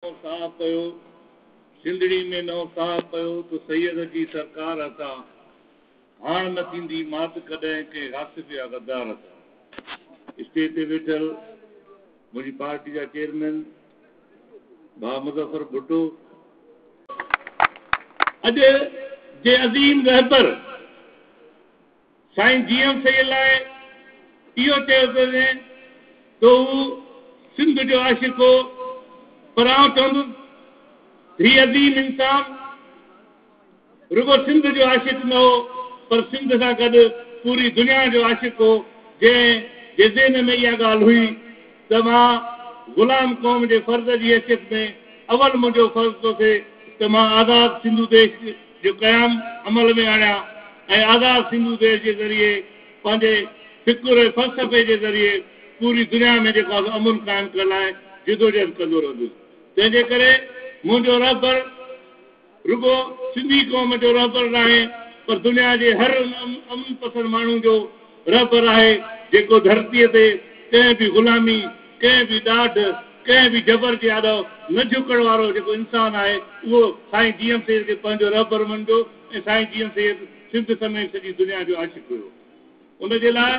نئون ساهه پيو، سنڌڙي ۾ نئون ساهه پيو ته سيد جي سرڪار هٿان هاڻ نه ٿيندي مات ڪڏهن ڪنهن غاصب يا غدار هٿان. اسٽيج تي ويٺل منهنجي پارٽي جا چيئرمين ڀاء مظفر ڀٽو. اڄ جي عظيم رهبر. سائين جي ايم سيد لاء اهو چيو پيو وڃي ته هو سنڌ جو عاشق هو پر آئون چوندس ته هي عظيم انسان رڳو سنڌ جو عاشق نه هو پر سنڌ سان گڏ پوري دنيا جو عاشق هو جنهن جي ذهن ۾ اها ڳالهه هئي ته مان غلام قوم جي فرد جي حيثيت ۾ اول منهنجو فرض ٿو ٿئي ته مان آزاد سنڌو ديش جو قيام عمل ۾ آڻيا ۽ آزاد سنڌو ديش جي ذريعي پنهنجي فڪر ۽ فلسفي جي ذريعي پوري دنيا ۾ جيڪو آهي سو امن قائم ڪرڻ لاء جدوجهد ڪندو رهندس تنهن جي ڪري منهنجو رهبر رڳو سنڌي قوم جو رهبر ناهي پر دنيا جي هر ان امن پسند ماڻهو جو رهبر آهي جيڪو ڌرتيء تي ڪنهن به غلامي، ڪنهن به ڏاڍ، ڪنهن به جبر جي آڏو نه جهڪڻ وارو جيڪو انسان آهي اهو سائين جي ايم سيد کي پنهنجو رهبر مڃبو ۽ سائين جي ايم سيد سنڌ سميت سڄي دنيا جو عاشق هيو ان جي لاء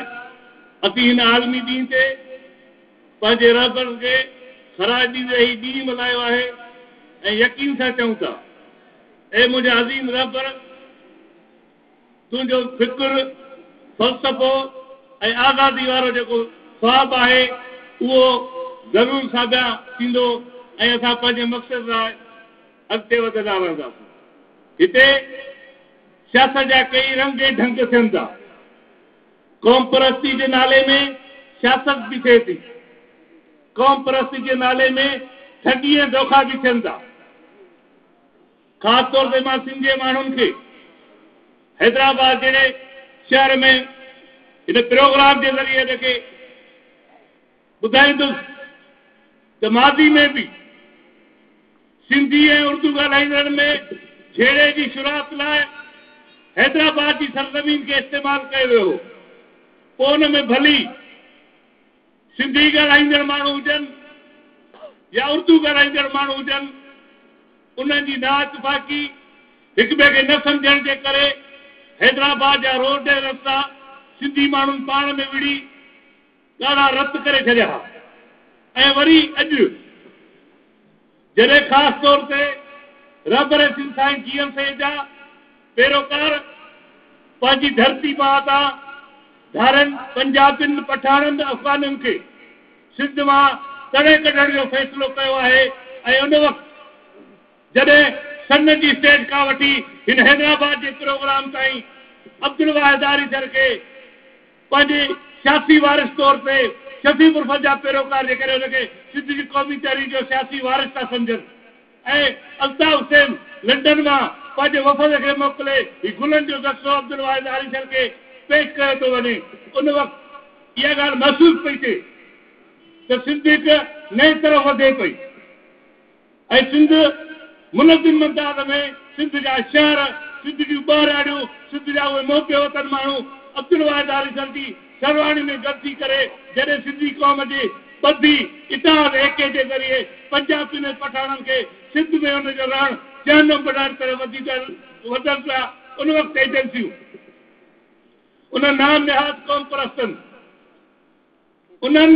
اسين هن عالمي ڏينهن تي پنهنجي رهبر کي خراج ڏيندي هي ڏينهن ملهايو آهي ۽ يقين سان چئون ٿا اي منهنجا عظيم رهبر! تنهنجو فڪر، فلسفو ۽ آزادي وارو جيڪو خواب آهي، اهو ضرور ساڀيان ٿيندو ۽ اسان پنهنجي مقصد لاء اڳتي وڌندا رهنداسون. هتي سياست جا ڪيئي رنگ ۽ ڍنگ ٿين ٿا. قومپرستي جي نالي ۾ سياست به ٿئي ٿي. قومپرستي جي نالي ۾ ٺڳي ۽ دوکا به ٿين ٿا. خاص طور تي مان سنڌ جي ماڻهن کي حيدرآباد جهڙي شهر ۾ هن پروگرام جي ذريعي هن کي ٻڌائيندس ته ماضي ۾ به سنڌي ۽ اردو ڳالهائيندڙن ۾ جهيڙي جي شروعات لاء حيدرآباد جي سرزمين کي استعمال ڪيو ويو هو پوء ان ۾ ڀلي سنڌي ڳالهائيندڙ ماڻهو هجن يا اردو ڳالهائيندڙ ماڻهو هجن، انهن جي نااتفاقي، هڪٻئي کي نه سمجهڻ جي ڪري حيدرآباد جا روڊ ۽ رستا سنڌي ماڻهن پاڻ ۾ وڙهي ڳاڙها رت ڪري ڇڏيا ها ۽ وري اڄ جڏهن خاص طور تي رهبر سنڌ سائين جيئن سيد جا پيروڪار پنهنجي ڌرتي ماء تان ڌارين پنجابين، پٺاڻن، افغانن کي سنڌ مان تڙي ڪڍڻ جو فيصلو ڪيو آهي ۽ ان وقت جڏهن سنڌ جي اسٽيج کان وٺي هن حيدرآباد جي پروگرام تائين عبدالواحد آريسر کي پنهنجي سياسي وارث طور تي شفيع مرفت جا پيروڪار جيڪڏهن ان کي سنڌ جي قومي تحريڪ جو سياسي وارث ٿا سمجهن ۽ الطاف حسين لنڊن مان پنهنجي وفد کي موڪلي هي گلن جو دستو عبدالواحد آريسر کي پيش ڪيو ٿو وڃي ان وقت اها ڳالهه محسوس پئي ٿئي ته سنڌ هڪ نئين طرف وڌي پئي. اي سنڌ! منظم مقدار ۾ سنڌ جا شهر، سنڌ جون ٻهراڙيون، سنڌ جا اهي محب وطن ماڻهو عبدالواحد آريسر جي سرواڻي ۾ گڏ ٿي ڪري جڏهن سنڌي قوم جي ٻڌي اتحاد ايڪي جي ذريعي پنجابين ۽ پٺاڻن کي سنڌ ۾ ان جو رهڻ جهنم بڻائڻ طرف وڌي وڌن پيا ان وقت ايجنسيون انهن نام نهاد قوم پرستن انهن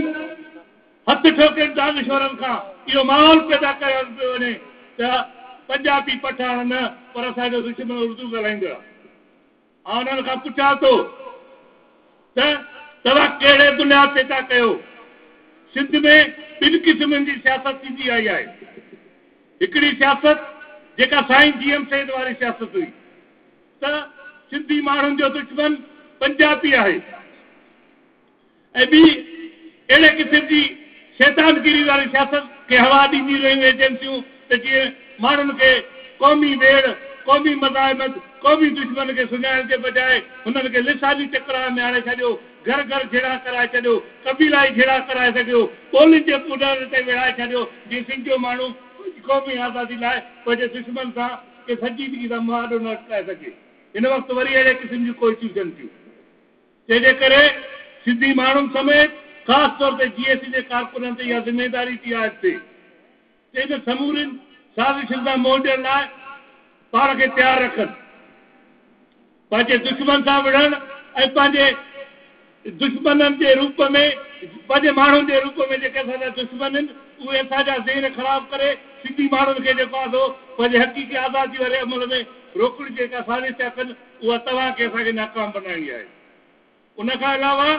هٿ ٺوڪين دانشورن کان اهو ماحول پيدا ڪيو پيو وڃي ته پنجابي پٺاڻ نه پر اسان جو دشمن اردو ڳالهائيندڙ آهي. آئون انهن کان پڇان ٿو ته توهان ڪهڙي بنياد تي ٿا ڪهيو؟ سنڌ ۾ ٻن قسمن جي سياست ٿيندي آئي آهي. هڪڙي سياست جيڪا سائين جي ايم سيد واري سياست هئي ته سنڌي ماڻهن جو دشمن پنجابي آهي. ۽ ٻي اهڙي قسم جي شيطانگيري واري سياست کي هوا ڏينديون رهيون ايجنسيون ته جيئن ماڻهن کي قومي ويڙهه، قومي مزاحمت، قومي دشمن کي سڃاڻڻ جي بجاء هنن کي لساني چڪڙان ۾ آڻي ڇڏيو، گهر گهر جهيڙا ڪرائي ڇڏيو، قبيلائي جهيڙا ڪرائي سگهيو، ٻولين جي پونئرن تي ويڙهائي ڇڏيو جيئن سنڌ جو ماڻهو پنهنجي قومي آزادي لاء پنهنجي دشمن سان ڪنهن سنجيدگي سان مهاڏو نه اٽڪائي سگهي. هن وقت وري اهڙي قسم جون ڪوششون ٿين ٿيون. تنهن جي ڪري سنڌي ماڻهن سميت خاص طور تي جي اي سي جي ڪارڪنن تي اها ذميواري ٿي عائد ٿئي ته انهن سمورين سازشن سان منهن ڏيڻ لاء پاڻ کي تيار رکن. پنهنجي دشمن سان وڙهڻ ۽ پنهنجي دشمنن جي روپ ۾ پنهنجي ماڻهن جي روپ ۾ جيڪي اسان جا دشمن آهن اهي اسان جا ذهن خراب ڪري سنڌي ماڻهن کي جيڪو آهي سو پنهنجي حقيقي آزادي واري عمل ۾ روڪڻ جي ڪا سازش ٿيا ڪن اها توهان کي اسان کي ناڪام بنائڻي آهي. ان کان علاوه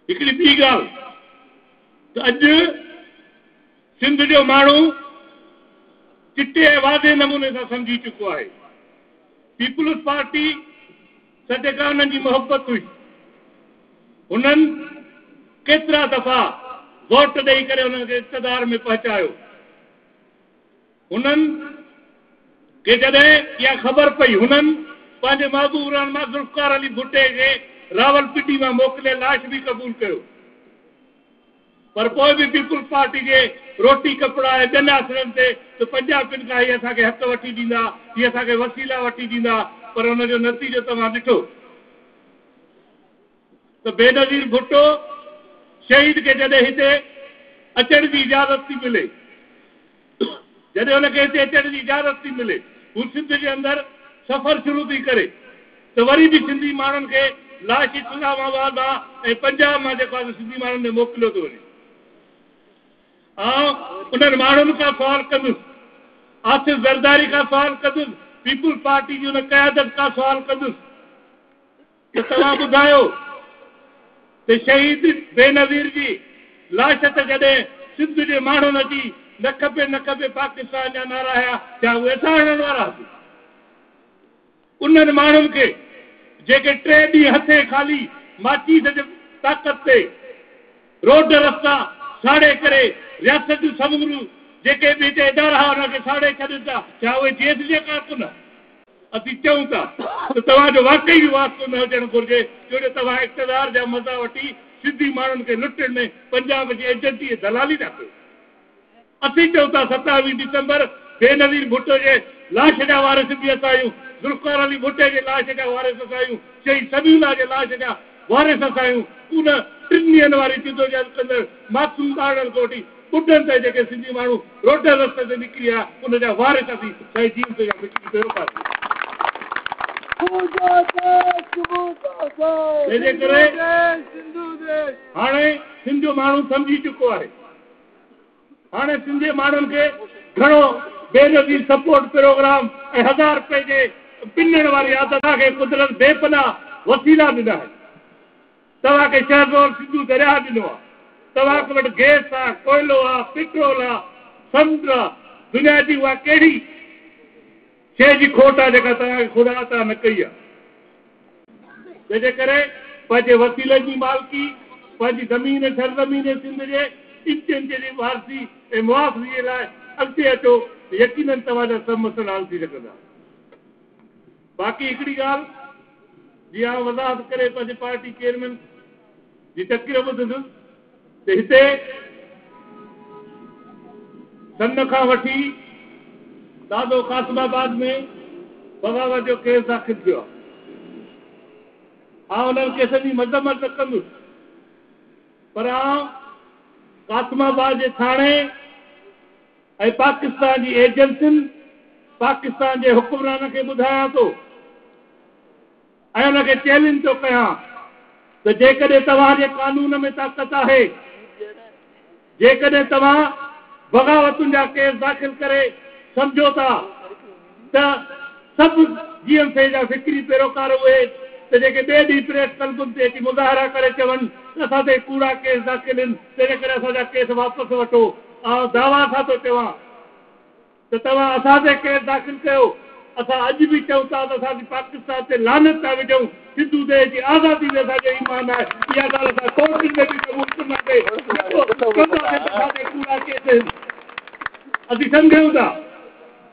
هڪڙي ٻي ڳالهه ته اڄ سنڌ جو ماڻهو چٽي ۽ واضح نموني سان سمجهي چڪو آهي پيپلز پارٽي سٽي کان انهن جي محبت هئي هنن ڪيترا دفعا ووٽ ڏئي ڪري انهن کي اقتدار ۾ پهچايو. هنن کي جڏهن اها خبر پئي، هنن پنهنجي محبوب رهنما ذوالفقار علي ڀٽي کي راولپنڊي مان موڪلي لاش به قبول ڪيو پر پوء به پيپلز پارٽي جي روٽي ڪپڙا ۽ ٻين آسرن تي ته پنجابين کان هي اسان کي حق وٺي ڏيندا، هي اسان کي وسيلا وٺي ڏيندا پر ان جو نتيجو توهان ڏٺو. ته بينظير ڀٽو شهيد کي جڏهن هتي اچڻ جي اجازت ٿي ملي جڏهن هن کي هتي اچڻ جي اجازت ٿي ملي هو سنڌ جي اندر سفر شروع ٿي ڪري ته وري به سنڌي ماڻهن کي لاش اسلام آباد مان ۽ پنجاب مان جيڪو آهي سنڌي ماڻهن ۾ موڪليو ٿو وڃي آئون انهن ماڻهن کان سوال ڪندس آصف زرداري کان سوال ڪندس پيپلز پارٽي جي ان قيادت کان سوال ڪندس ته توهان ٻڌايو ته شهيد بينظير جي لاش تي جڏهن سنڌ جي ماڻهن اچي نه کپي نه کپي پاڪستان جا نعرا هنيا ڇا اهي اسان هڻڻ وارا هئاسين؟ انهن ماڻهن کي جيڪي ٽي ڏينهن هٿين خالي ماچيس جي طاقت تي روڊ رستا ساڙي ڪري رياست جون سموريون جيڪي به هتي ادارا هئا انهن کي ساڙي ڇڏين ٿا ڇا اهي جي ايس جي ڪارڪن هئا؟ اسين چئون ٿا ته توهان جو واقعي به واسطو نه هجڻ گهرجي جوجي توهان اقتدار جا مزا وٺي سنڌي ماڻهن کي لٽڻ ۾ پنجاب جي ايجنٽي ۽ دلالي ٿا ڪيو. اسين چئون ٿا ستاويهه ڊسمبر بينظير ڀٽو جي لاش جا وارث به اسان آهيون، ذوالفقار علي ڀٽي جي لاش جا وارث اسان آهيون، شهيد سميع الله جي لاش جا وارث اسان آهيون، ان ٽن ڏينهن واري جدوجهد ڪندڙ معصوم ٻارڙن کان وٺي ٻڍن تائين جيڪي سنڌي ماڻهو روٽي رستي تي نڪري آيا ان جا وارث اسين سائين جيئن پيو يا مٽي پيو پاسي تنهنجي ڪري هاڻي سنڌ ماڻهو سمجهي چڪو آهي هاڻي سنڌي ماڻهن کي گهڻو بينظير سپورٽ پروگرام ۽ هزار رپئي جي پنڻ واري عادت کي قدرت بي پناهه وسيلا ڏنا آهن. توهان کي شهر رول سنڌو درياهه ڏنو آ، توهان وٽ گيس آ، ڪوئلو آ، پيٽرول آ، سمنڊ آ، دنيا جي اها ڪهڙي شيء جي کوٽ آ جيڪا توهان کي خدا عطا نه ڪئي آ؟ تنهن جي ڪري پنهنجي وسيلن جي مالڪي، پنهنجي زمين ۽ سرزمين سنڌ جي انچ انچ جي وارثي ۽ محافظي لاء اڳتي اچو ته يقينن توهان جا سڀ مسئلا حل ٿي سگهندا. باقي هڪڙي ڳالهه جي آئون وضاحت ڪري پنهنجي پارٽي چيئرمين جي تقرير ٻڌندس ته هتي سن کان وٺي دادو قاسم آباد ۾ بغاوت جو ڪيس داخل ٿيو آهي آئون انهن ڪيسن جي مذمت نه ڪندس پر آئون قاسم آباد جي ٿاڻي ۽ پاڪستان جي ايجنسين پاڪستان جي حڪمرانن کي ٻڌايان ٿو ۽ انهن کي چئلينج ٿو ڪيان ته جيڪڏهن توهان جي قانون ۾ طاقت آهي جيڪڏهن توهان بغاوتن جا ڪيس داخل ڪري سمجهو ٿا ته سڀ جي ايم سي جا فڪري پيروڪار اهي ته جيڪي ٻئي ڏينهن پريس ڪلبن تي اچي مظاهرا ڪري چون ته اسان تي ڪوڙا ڪيس داخل هن تنهنڪري اسان جا ڪيس واپس وٺو آئون دعويٰ سان ٿو چوان ته توهان اسان تي ڪيس داخل ڪيو اسان اڄ به چئون ٿا ته اسان پاڪستان تي لعنت ٿا وجهون سنڌو ديش جي آزادي تي اسان جو ايمان آهي اها ڳالهه اسان ڪورٽن ۾ به قبول ڪنداسين جيڪو چونداسين ته اسان تي ڪوڙا ڪيس هن اسين سمجهون ٿا.